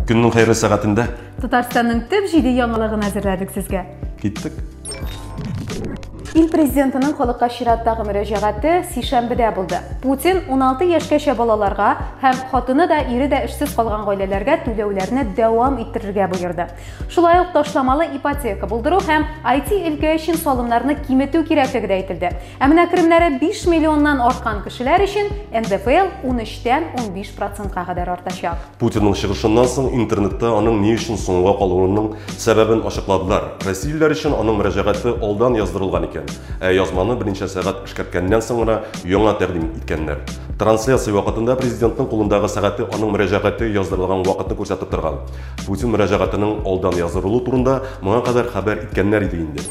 Көннең хәерле сәгатендә. Татарстанның төп җиде яңалыгын әзерләдек сезгә. Киттек. Ил президентының халыкка чираттагы мөрәҗәгате сишәмбедә булды. Путин 16 яшькәчә балаларга һәм хатыны да, ире дә эшсез калган гаиләләргә түләүләрне дәвам иттерергә боерды. Шулай ук ташламалы ипотека булдыру һәм IT өлкә өчен салымнарны киметү кирәклеге дә әйтелде. Ә менә керемнәре 5 миллионнан арткан кешеләр өчен НДФЛ 13-тән 15 процентка кадәр артачак. Путинның чыгышыннан соң интернетта аның ни өчен соңга калуының сәбәбен ачыкладылар. Россиялеләр өчен аның мөрәҗәгате алдан яздырылган икән, ә язманы берничә сәгать эшкәрткәннән соң гына яңа тәкъдим иткәннәр. Трансляция вакытында президентның кулындагы сәгате аның мөрәҗәгате яздырылган вакытны күрсәтеп торган. Путин мөрәҗәгатының алдан яздырылу турында моңа кадәр хәбәр иткәннәр иде инде.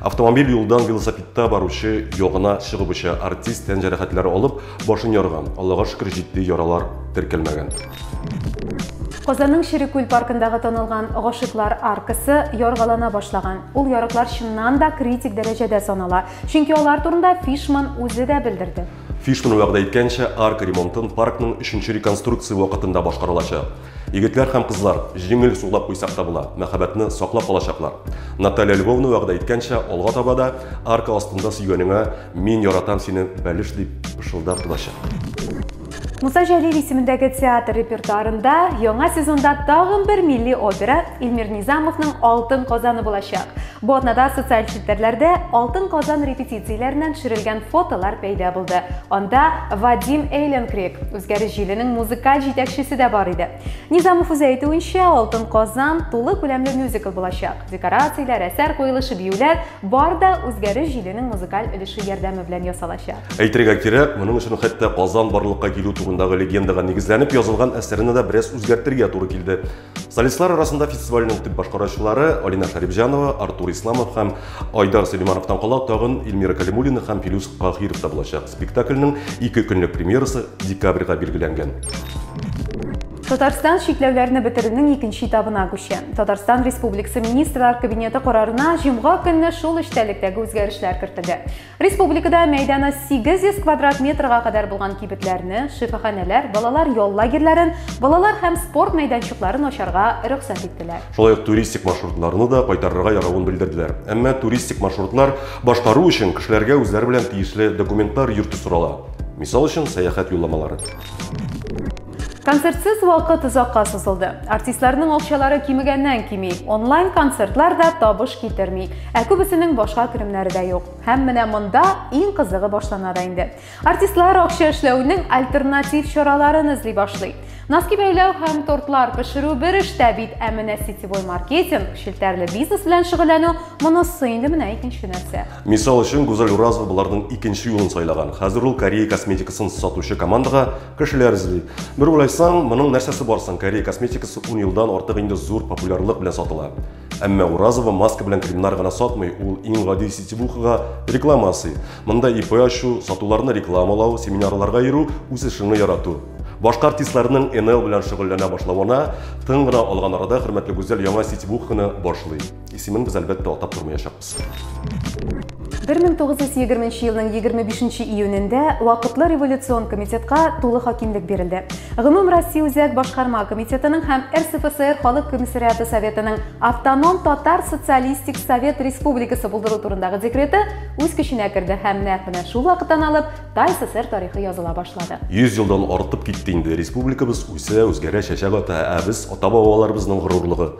Автомобиль юлдан велосипедта баручы ягына чыгып оча. Артист тән җәрәхәтләре алып, башын ярган. Аллага шөкер, җитди яралар теркәлмәгән. Казанның Шире күл паркындагы танылган Гашыйклар аркасы яргалана башлаган. Ул ярыклар чыннан да критик дәрәҗәдә санала, чөнки алар турында Фишман үзе дә белдерде. Фишман вәгъдә иткәнчә, арка ремонтын паркның өченче реконструкция вакытында башкарылачак. Егетләр һәм кызлар, җиңел сулап куйсак та була, мәхәббәтне саклап калачаклар. Наталья Львовна вәгъдә иткәнчә, алга таба да арка астында сөйгәнеңә мин яратам сине, бәлеш, дип пышылдап торачак. Муса Җәлил исемендәге театр репертуарында яңа сезонда тагын бер милли опера, Илмир Низамовның Алтын казаны булачак. Бу атнада социаль челтәрләрдә Алтын Казан репетицияләреннән төшерелгән фотолар пәйда булды. Анда Вадим Эйленкрик, үзгәреш җиленең музыкаль җитәкчесе дә бар иде. Низамов үзе әйтүенчә, Алтын Казан тулы күләмле мюзикл булачак. Декорацияләр, әсәр куелышы, биюләр бар да үзгәреш җиленең музыкаль өлеше ярдәме белән ясалачак. Әйтергә кирәк, моның өчен хәтта Казан барлыкка килү турындагы легендага нигезләнеп язылган әсәрне дә бераз үзгәртергә туры килде. Солистлар арасында фестивальнең төп башкаручылары Алина Харибҗанова, Артур Исламов һәм Айдар Сөлеймановтан кала тагын Эльмира Калимуллина һәм Филүс Каһиров та булачак. Спектакльнең ике көнлек премьерасы декабрьгә билгеләнгән. Татарстан чикләүләрне бетерүнең икенче этабына күчә. Татарстан Республикасы Министрлар Кабинеты карарына җомга көнне шул эчтәлектәге үзгәрешләр кертелде. Республикада мәйданы 800 квадрат метрга кадәр булган кибетләрне, шифаханәләр, балалар ял лагерьләрен, балалар һәм спорт мәйданчыкларын ачарга рөхсәт иттеләр. Шулай ук туристик маршрутларны да кайтарырга яравын белдерделәр. Әмма туристик маршрутлар башкару өчен кешеләргә үзләре белән тиешле документлар йөртү сорала. Мисал өчен, сәяхәт юлламалары. Концертсыз вакыт озакка сузылды. Артистларның акчалары кимегәннән кими, онлайн концертлар да табыш китерми, ә күбесенең башка керемнәре дә юк. Һәм менә монда иң кызыгы башлана да инде. Артистлар акча эшләүнең альтернатив чараларын эзли башлый. Носки бәйләү һәм тортлар пешерү бер эштә бит, ә менә сетевой маркетинг, челтәрле бизнес белән шөгыльләнү монысы инде менә икенче нәрсә. Мисал өчен, Гүзәл Уразова боларның икенче юлын сайлаган. Хәзер ул Корея косметикасын сатучы командага Кешеләр эзли. Бер уйлайсаң, моның нәрсәсе бар соң? Корея косметикасы 10 елдан артык инде зур популярлык белән сатыла. Әмма Уразова маска белән кремнар гына сатмый, ул иң гади сетевухага реклама ясый. Монда ИП ачу, сатуларны рекламалау, семинарларга йөрү, үз эшеңне ярату. Башка артистларның НЛ белән шөгыльләнә башлавына тын гына алган арада хөрмәтле Гүзәл яңа сетевуханы башлый. Исемен без әлбәттә атап тормаячакбыз. 1920 елның 25 июнендә вакытлы революцион комитетка тулы хакимлек бирелде. Гомум Россия үзәк башкарма комитетының һәм РСФСР халык комиссариаты советының автоном татар социалистик совет республикасы булдыру турындагы декреты үз көченә керде һәм нәкъ менә шул вакыттан алып Тай СССР тарихы языла башлады. 100 елдан артып китте инде республикабыз үсә, үзгәрә, чәчәк ата, ә без ата-бабаларыбызның горурлыгы,